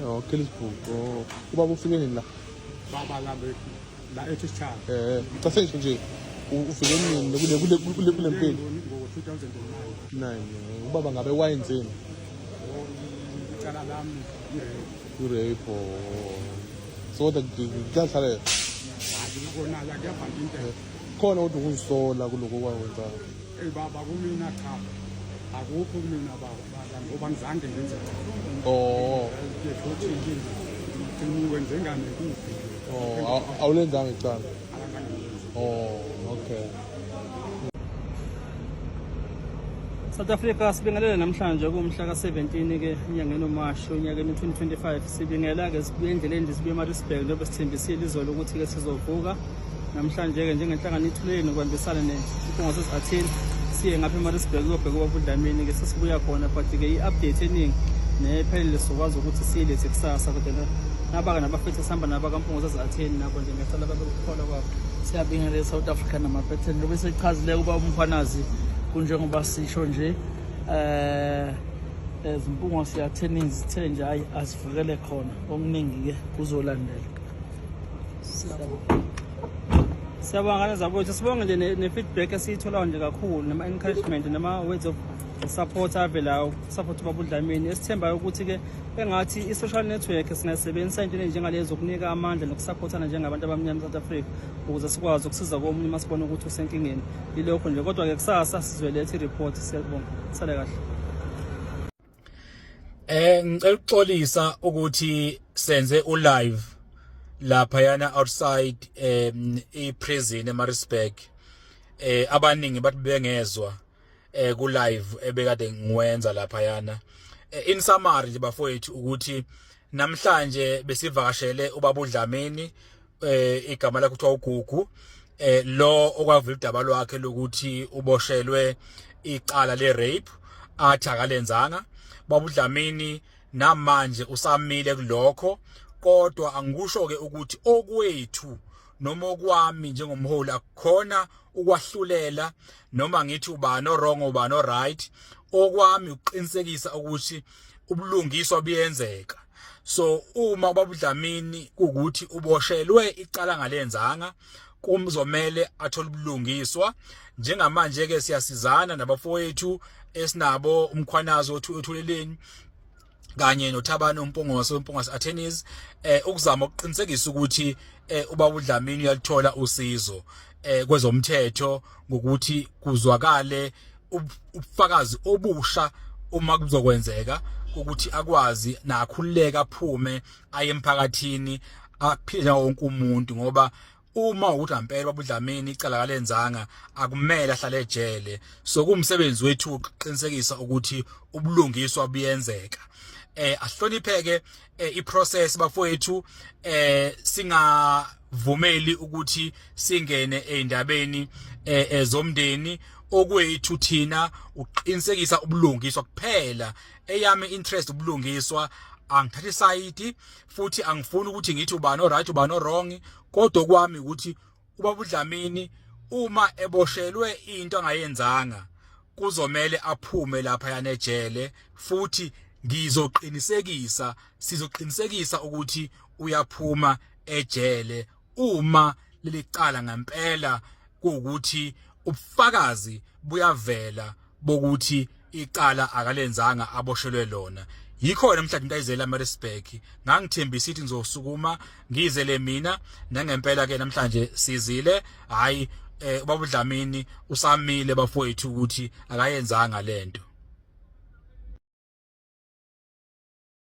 Oh, kill his book. Oh, uba ufike nini la? Baba la be la ethi sichaka. Eh, cha senje nje. Ufike nini kule kule kule kule mpilo? Ngo 2009. Nine. Ubaba ngabe wayenzeni? Oh, icala lami i-rape. I-rape. Oh. So that kuyahlala. Hayi, ngikona la kuyabhanda into. Khona kodwa ukuzisola kuloko kwakwenzayo. Hey baba kumina cha. Akukho kumina baba baba ngoba ngizange ngenze. Oh. Futhi inkinga. Ngiciniwe njengane kuphi. Oh, awulenzanga icala. Oh, okay. South Africa sibingelele namhlanje kumhla ka-17 ke enyangeni uMashi onyakeni 2025 sibingela ke sibuye endleleni sibuye eMaritzburg njengoba sithembisile izolo ukuthi ke sizovuka Namhlanje-ke njengenhlangano ithulele nokubambisana nesikhungo sesi-Athene siye ngapha eMaritzburg kuyobheka ubaba uDlamini-ke sesibuya khona but-ke i-update eningi nephelele sizokwazi ukuthi siyilethe kusasa kodwa nabaka nabafethu esihamba nabo akampungo sesi-Athene nabo nje ngiyacela babe ukukholwa kwabo siyabingelela e-south africa namaphetheni lobe sechazile ukuba umfanazi kunjengoba sisho nje um ezimpungo siyatheni zithe nje hhayi asivikele khona okuningi-ke kuzolandela siyabonga ngane zakwethu sibonge nje ne-feedback esiyitholayo nje kakhulu nama-encouragement nama-words of support avelayo ukusupport ubabudlamini esithembayo ukuthi-ke engathi i-social network singayisebenzisa into enjengalezi ukunika amandla nokusaphothana njengabantu abamnyama e-south africa ukuze sikwazi ukusiza komunye uma sibona ukuthi usenkingeni yilokho nje kodwa-ke kusasa sizoletha i-report siyabonga sale kahle Eh ngicela ukuxolisa ukuthi senze u live lapha yana outside um i prison eMaritzburg eh abaningi bathi bengezwa eh ku live ebekade ngiwenza lapha yana eh, in summary nje bafowethu ukuthi namhlanje besivakashele ubaba uDlamini eh igama lakhe kuthiwa uGugu eh lo okwavula udaba lwakhe lokuthi uboshelwe icala le rape athi akalenzanga baba uDlamini namanje usamile kulokho kodwa angikusho ke ukuthi okwethu noma okwami njengomholi akukhona ukwahlulela noma ngithi ubani orong ubani oright okwami ukuqinisekisa ukuthi ubulungiswa buyenzeka so uma ubabudlamini ukuthi uboshelwe icala ngalenzanga kumzomele athole ubulungiswa njengamanje ke siyasizana nabafowethu esinabo umkhwanazo othu ethuleleni kanye noThabani uMpungose uMpungose Attorneys eh ukuzama ukuqinisekisa ukuthi eh ubaba uDlamini uyalithola usizo eh kwezomthetho ngokuthi kuzwakale ubufakazi obusha uma kuzokwenzeka ukuthi akwazi nakhululeka aphume aye emphakathini aphile nawo wonke umuntu ngoba uma ukuthi ampela babudlamini icala kalenzanga akumele ahlale ejele so kumsebenzi wethu ukuqinisekisa ukuthi ubulungiswa buyenzeka eh ahlonipheke eh, iprocess bafowethu eh singavumeli ukuthi singene eindabeni eh, eh, zomndeni okwethu thina uqinisekisa ubulungiswa kuphela eyami interest ubulungiswa angithathi side futhi angifuni ukuthi ngithi ubani oright ubani wrong kodwa kwami ukuthi ubaba uDlamini uma eboshelwe into angayenzanga kuzomele aphume lapha yanejele futhi ngizoqinisekisa sizoqinisekisa ukuthi uyaphuma ejele uma lelicala ngempela ukuthi ubufakazi buyavela bokuthi icala akalenzanga aboshelwe lona yikhona mhla into ayizela Maritzburg ngangithembisa ithi ngizosukuma ngizele mina nangempela ke namhlanje sizile hayi eh ubaba Dlamini usamile bafowethu ukuthi akayenzanga lento